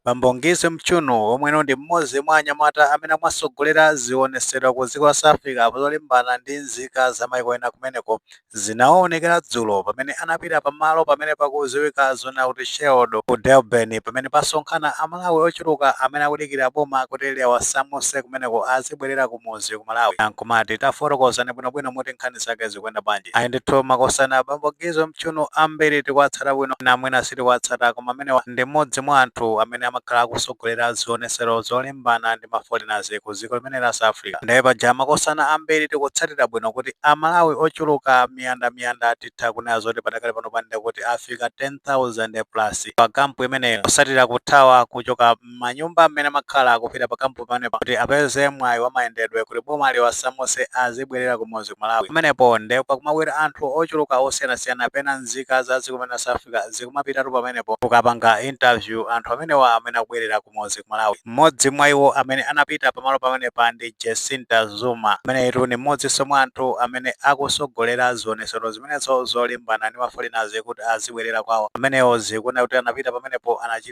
Bambo Ngizwe Mchunu omwe ndi m'modzi mwa anyamata amene amatsogolera ziwonesero ku dziko la South Africa zolimbana ndi nzika za maiko ena kumeneko, zinawonekera dzulo pamene anapita pa malo pamene pakudziwika zoona kuti Sherwood ku Durban pamene pasonkhana a Malawi ochuluka amene akudikira boma kuti liwasamutse kumeneko azibwelera kumudzi ku Malawi. Ankumati, tafotokozani bwinobwino mmuti nkhani zake zikuyenda bwanji? Ayi ndithu makosana Bambo Ngizwe. Mchunu ambiri tikuwatsata bwino enanu mwina sitikuwatsata koma amenewa ndi mmodzi mwa anthu amene amakhala akusogolera zionesero zolimbana ndi ma foreigners ku ziko limeneli la South Africa nde paja makosana ambiri tikutsatira bwino kuti a Malawi ochuluka miyanda miyanda titha kunena zoti padakali pano pa ndekuti afika 10,000 plus pa camp imeneyo posatira kuthawa kuchoka mmanyumba mmene amakhala, akupita pa camp pamenepa kuti apeze mwayi wa mayendedwe kuti boma liwasamuse azibwelera kumudzi ku Malawi pamenepo nde pakumabwera anthu ochuluka osiyanasiyana pena nzika za dziko limeneli la South Africa zikumapitatu pamenepo kukapanga interview anthu amenewa amene akubwelera kumudzi ku Malawi mmodzi mwa iwo amene anapita pamalo pamenepa ndi Jacinta Zuma ameneyitu ndi mmodzinso mwa anthu amene akusogolera zionetsero zimenezo zolimbana ndi ma foreigners kuti azibwelera kwawo amenewo zikuoneka kuti anapita pamenepo anachita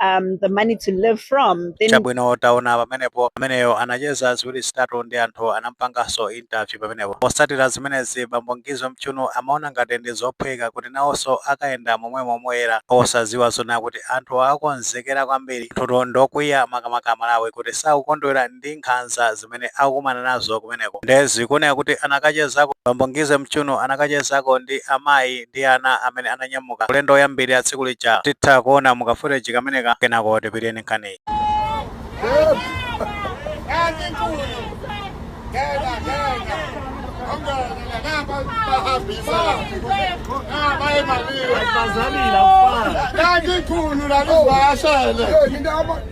um, the money to live from, chabwino taona pamenepo ameneyo anacheza ziwiri zitatu ndi anthu anampanganso interview pamenepo posatira zimenezi bambo Ngizwe Mchunu amaona ngati ndi zophweka kuti nawonso akayenda momwemo moyera osaziwa zoona kuti anthu akonzekera kwambiri anthutu ndokwiya makamaka a Malawi kuti sakukondwera ndi nkhanza zimene akukumana nazo kumeneko nde zikuoneka kuti anakachezako bambo Ngizwe Mchunu anakachezako ndi amayi ndi ana amene ananyamuka ulendo woyambirira tsiku lija titha kuona mu ka footage kameneka kenako tipitirize nkhaniyi Thank you.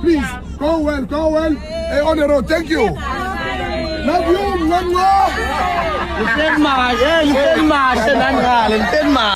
Please, go well, go well. Hey, on the road, thank you. Love you, one love.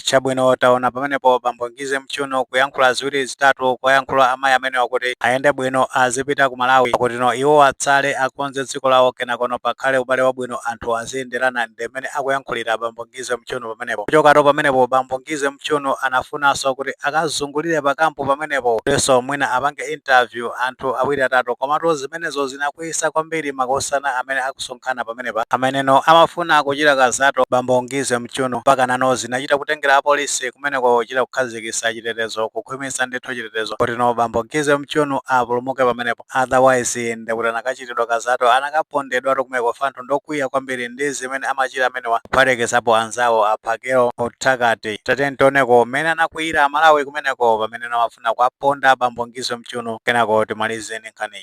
chabwino taona pamenepo bambo Ngizwe Mchunu kuyankhula ziwiri zitatu kuwayankhula amayi amenewa kuti ayende bwino azipita ku Malawi kutino iwo atsale akonze dziko lawo kenakono pakhale ubale wabwino anthu aziyenderana nde mmene akuyankhulira bambo Ngizwe Ngizwe Mchunu pamenepo. Kuchokato pamenepo bambo Ngizwe Mchunu anafunanso kuti akazungulire pa camp pamenepo kutinso mwina apange interview anthu awiri atatu komatu zimenezo zinakwiyisa kwambiri makosana amene akusonkhana pamenepa ameneno amafuna kuchita kanthutu bambo Ngizwe Mchunu mpakanano zinachita kutengera apolisi kumeneko kuchita kukhazikisa chitetezo kukhwimitsa ndithu chitetezo kutino bambo Ngizwe Mchunu apulumuke pamenepo. otherwise ndekuti anakachitidwa kazato anakapondedwatu kumeko chifukwa anthu ndokwiya kwambiri ndi zimene amachita amenewa kuphatikizapo anzawo a Phakel'umthakathi tatiyeni tioneko mmene anakwiyira amalawi kumeneko pamene anawafuna kuwaponda abambo Ngizwe Mchunu kenako timalize ndi nkhaniyi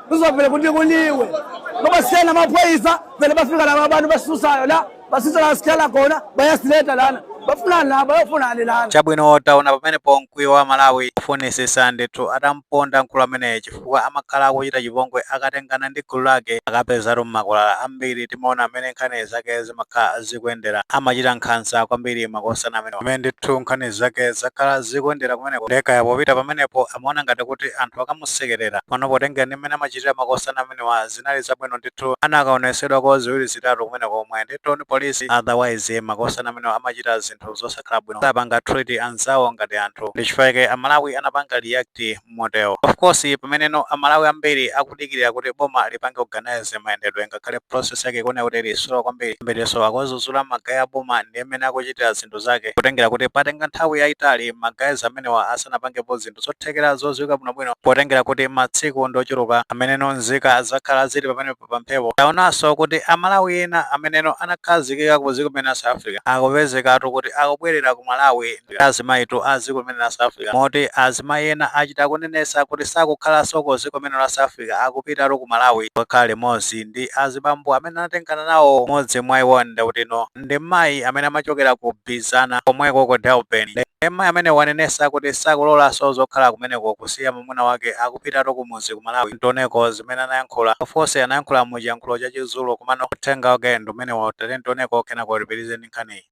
uzovele kuthi kuliwe ngoba sena amaphoyisa vele bafika laba abantu basisusayo la basisusa la sikhala khona bayasiletha lana bafunani la bayofunani lana chabwino taona pamenepo mkwiyo wa amalawi ofunisisa ndithu atamponda mkulu ameneyo chifukwa amakhala akuchita chipongwe akatengana ndi gulu lake akapezatu mmakwalala ambiri timaona amene nkhani zake zimakhala zikuyendera amachita nkhanza kwambiri makosana amenewa amene ndithu nkhani zake zakhala zikuyendera kumeneko nde kaya popita pamenepo amaona ngati kuti anthu akamusekerera. Pano potengera ndi mmene amachitira makosana amenewa zinali zabwino ndithu anakaonesedwako ziwiri zitatu kumene komwe ndithu ndi police otherwise makosana amenewa amachita zinthu zosakhala bwino sapanga treat anzawo ngati anthu ndi chifukwa chake amalawi anapanga react motero. Of course pameneno amalawi ambiri aku. kudikilira kuti boma lipange organize mayendedwe ngakhale process yake ikuoneka kuti ili slow kwambiri ambirinso akuwazuzula magaye a boma ndi mmene akuchitira zinthu zake kutengera kuti patenga nthawi yayitali magayizi amenewa asanapangepo zinthu zothekera zodziwika bwinobwino potengera kuti matsiku ndi ochuluka ameneno nzika zakhala zili pamenepo pa mphepo taonanso kuti amalawi ena ameneno anakhazikika ku dziko limene la south africa akupezekatu kuti akubwerera ku malawi ndi azimayitu a dziko limene la South Africa moti azimayi ena achita kunenesa kuti sakukhalaso ku dziko limene la South Africa akupitatu ku Malawi kukakhala limodzi ndi azibambo amene anatengana nawo modzi mwa iwo ndekuti no ndi mayi amene amachokera ku Bizana komweko ku Durban ndi mayi amene wanenesa kuti sakulolaso zokhala kumeneko kusiya mamuna wake akupitatu ku mudzi ku Malawi ntioneko zimene anayankhula of course anayankhula mu chiyankhulo cha chizulu komano uthenga wake ndi umenewo tatiyeni tioneko kenako tipitirize ndi nkhaniyi.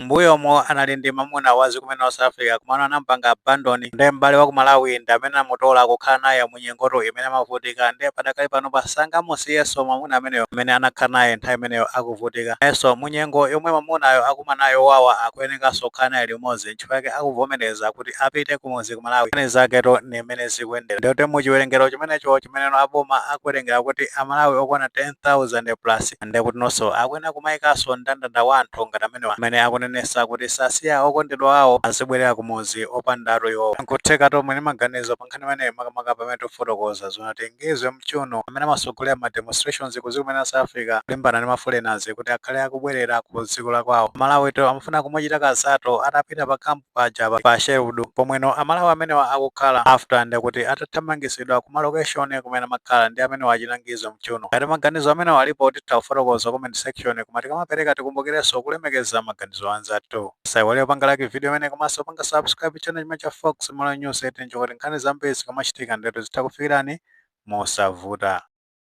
M'mbuyomo anali ndi mamuna wa dziko limene la South Africa komano anamupanga abandon nde m'bale wa ku Malawi ndi amene anamutola kukhala naye mu nyengotu imene amavutika nde padakali panopa sangamusiyeso mamuna ameneyo amene anakhala naye nthawi imeneyo akuvutika nayeso mu nyengo yomwe mamunayo akumana nayo yowawa akuyenekaso kukhala naye limodzi nchifukwa chake akuvomeleza kuti apite kumudzi ku Malawi nkhani zaketu ndi mmene zikuyendera ndekuti mu chiwelengelo chimenecho chimeneno aboma akuwelengela kuti a Malawi okwana 10,000 plus ndekuti nonso akuyenera kumayikanso mndandanda wa anthu ngati amenewa amene akunenesa kuti sasiya okondedwa awo azibwelera kumudzi opandatu iwowo. Nkuthekatu muli ndi maganizo pa nkhani imeneyi makamaka pamene tikufotokoza zoti a Ngizwe Mchunu amene amasogolera ma demonstrations ku dziko limene la South Africa kulimbana ndi ma foreigners kuti akhale akubwelera ku dziko la kwawo. Amalawitu amafuna kumuchita kazato atapita pa camp. paja pa Sherwood pomweno amalawi amenewa akukhala after ndekuti atathamangitsidwa ku malocation kumene amakhala ndi amenewa a chita Ngizwe Mchunu. Ngati maganizo amenewa alipo titha kufotokoza comment section koma tikamapereka tikumbukirenso kulemekeza maganizo a anzathu. Musaiwale kupanga like video imeneyi komanso kupanga subscribe channel chimenechi cha Fox Malawi News 18 ndi kuti nkhani zambiri zikamachitika ndetu zitha kufikirani mosavuta.